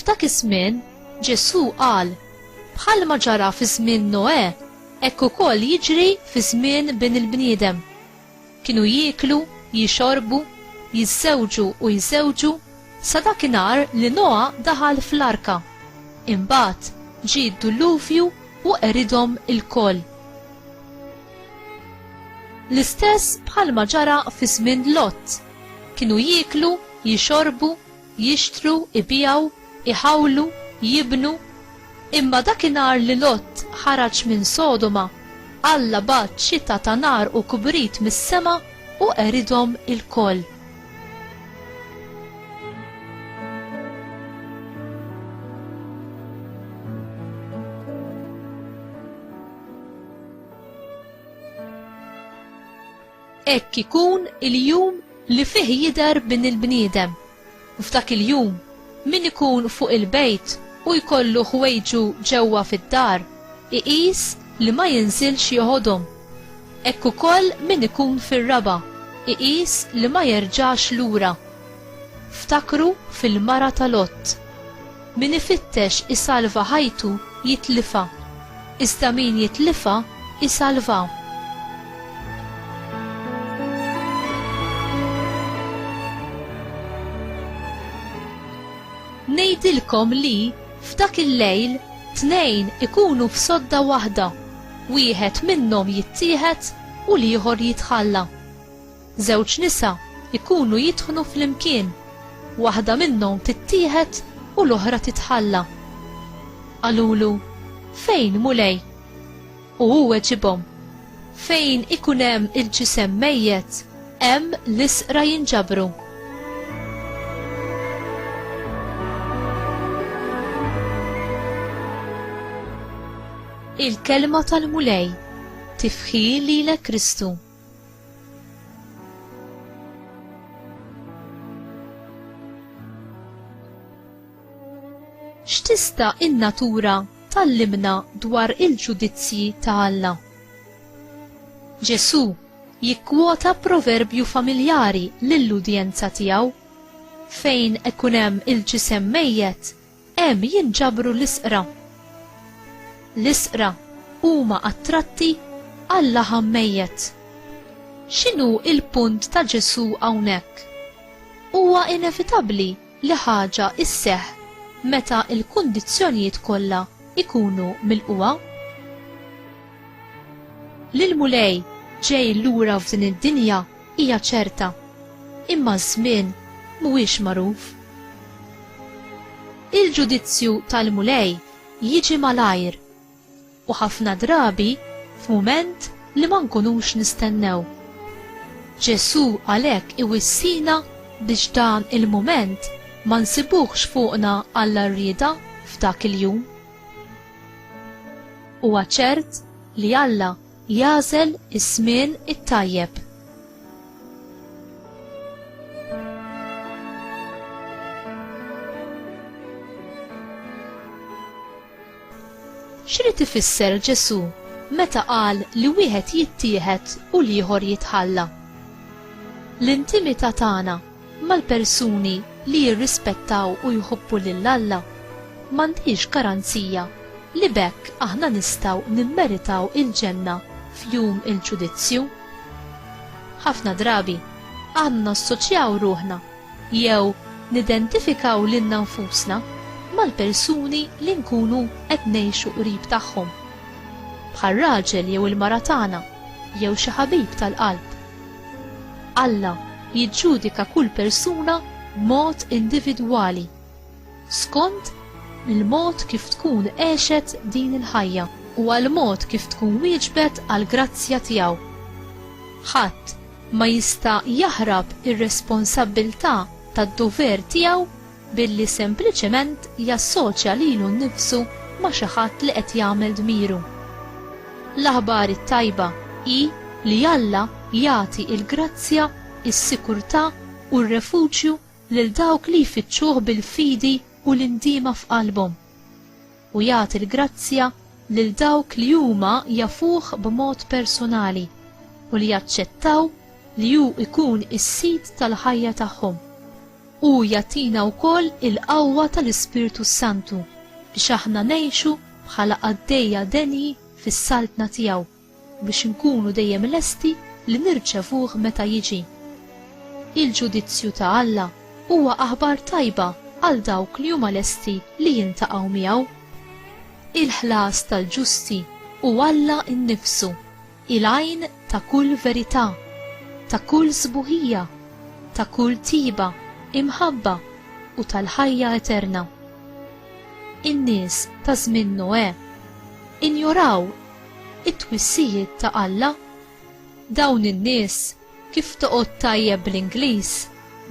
F'dak iż-żmien Ġesù qal bħalma ġara fi żmien Noè, hekk ukoll jiġri fi żmien bin il-bniedem. Kienu jieklu, jixorbu, jiżżewġu u jżewġu sa dakinhar li Noa daħal fl-arka. Imbagħad ġie d-dulluvju u qeridhom ilkoll. L-istess bħalma ġara fi żmien Lot. Kienu jieklu, jixorbu, jixtru, ibiegħu, iħawlu, jibnu, imma dakinhar li Lot ħaraġ minn Sodoma, Alla bagħat xita ta' nar u kbrit mis-sema u qeridhom ilkoll. Hekk ikun il-jum li fih jidher Bin il-bniedem. F'dak il-jum, min ikun fuq il-bejt u jkollu ħwejġu ġewwa fid-dar, iqis li ma jinżilx joħodhom. Hekk ukoll min ikun fir-raba', iqis li ma jerġax lura. Ftakru fil-mara ta' Lot. Min ifittex isalva ħajtu jitlifha, iżda min jitlifha isalvha. Ngħidilkom li, f'dak il-lejl, tnejn ikunu f'sodda waħda, wieħed minnhom jittieħed u l-ieħor jitħalla. Żewġ nisa jkunu jidħnu flimkien, waħda minnhom tittieħed u l-oħra titħalla. Qalulu, Fejn, Mulej? U hu weġibhom, Fejn ikun hemm il-ġisem mejjet, hemm l-isqra jinġabru. Il-kelma tal-Mulej tifħi lilek Kristu. X'tista' in-natura tallimna dwar il-ġudizzji ta' Alla? Ġesù jikkwota proverbju familjari lill-udjenza tiegħu, Fejn ikun hemm il-ġisem mejjet, Hemm jinġabru l-isqra. L-isqra huma attratti għal laħam mejjet. X'inhu l-punt ta' Ġesù hawnhekk? Huwa inevitabbli li ħaġa isseħħ meta l-kundizzjonijiet kollha jkunu milqugħa. L-Mulej ġej lura f'din id-dinja Hija ċerta, imma ż-żmien mhuwiex magħruf. Il-ġudizzju tal-Mulej jiġi malajr, u ħafna drabi f'mument li ma nkunux nistennew. Ġesù għalhekk iwissina biex dan il-mument ma nsibuhx fuqna għall-għarrieda f'dak il-jum. Huwa ċert li Alla Jagħżel iż-żmien it-tajjeb. X'rid ifisser Ġesù meta qal li wieħed jittieħed u l-ieħor jitħalla? L-intimità tagħna mal-persuni li jirrispettaw u jħobbu lil Alla, m'għandhiex garanzija li b'hekk aħna nistgħu nimmeritaw il-ġenna f'jum il-ġudizzju. Ħafna drabi, aħna nassoċjaw ruħna jew nidentifikaw lilna nfusna mal-persuni li nkunu qed ngħixu qrib tagħhom, bħar-raġel jew il-mara tagħna jew xi ħabib tal-qalb. Alla jiġġudika kull persuna b'mod individwali, skont il-mod kif tkun għexet din il-ħajja u għall-mod kif tkun wieġbet għall-grazzja tiegħu. Ħadd ma jista' jaħrab ir-responsabbiltà tad-dover tiegħu billi sempliċement jassoċja lilu nnifsu ma' xi ħadd li qed jagħmel dmiru. L-aħbar it-tajba hi li Alla jagħti l-grazzja, is-sikurtà u r-refuġju lil dawk li jfittxuh bil-fidi u l-indiema f'qalbhom. u jagħti l-grazzja lil dawk li huma jafuh b'mod persunali u li jaċċettaw li hu jkun is-Sid tal-ħajja tagħhom. Hu jagħtina wkoll il-qawwa tal-Ispirtu s-Santu biex aħna ngħixu bħala qaddejja denji fis-Saltna tiegħu. biex inkunu dejjem lesti li nirċevuh meta jiġi. Il-ġudizzju ta' Alla huwa aħbar tajba għal dawk li huma lesti li jiltaqgħu miegħu. Il-ħlas tal-ġusti hu Alla nnifsu, il-għajn ta' kull verità, ta' kull sbuħija, ta' kull tjieba, imħabba u tal-ħajja eterna. In-nies ta' żmien Noè injoraw It-twissijiet ta' Alla? Dawn in-nies, kif toqgħod tajjeb bl-Ingliż,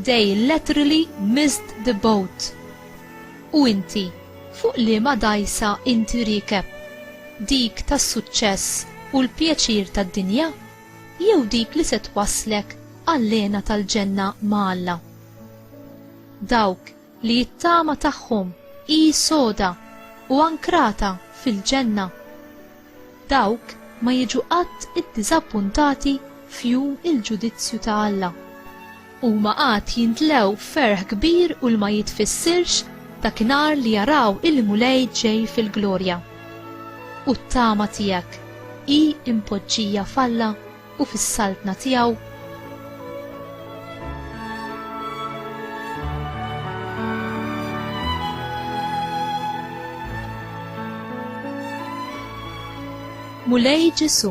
they laterally missed the boat. U inti, fuq liema dgħajsa inti riekeb? Dik tas-suċċess u l-pjaċir tad-dinja? Jew dik li se twasslek għall-hena tal-ġenna ma' Alla? Dawk li t-tama tagħhom hi soda u ankrata fil-ġenna. Dawk ma jiġu qatt iddiżappuntati f'jum il-ġudizzju ta' Alla. Huma għad jintlew ferħ kbir u l-ma jitfissirx dakinhar li jaraw il-Mulej ġej fil-glorja. U t-tama tiegħek hi mpoġġija f'Alla? u fis-Saltna tiegħu. Mulej Ġesu,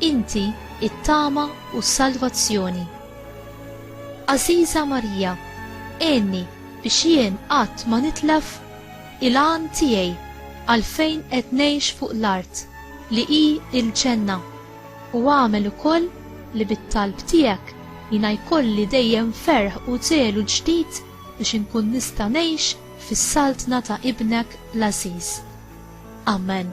inti it-tama u s-salvazzjoni. Aziza Marija, għenni biex jien qatt ma nitlef il-għan tiegħi għalfejn qed ngħix fuq l-art li hi il-ġenna. u agħmel ukoll li bit-talb tiegħek jiena jkolli dejjem ferħ u żelu ġdid biex inkun nista' ngħix fis-Saltna ta' Ibnek l-għażiż. Amen.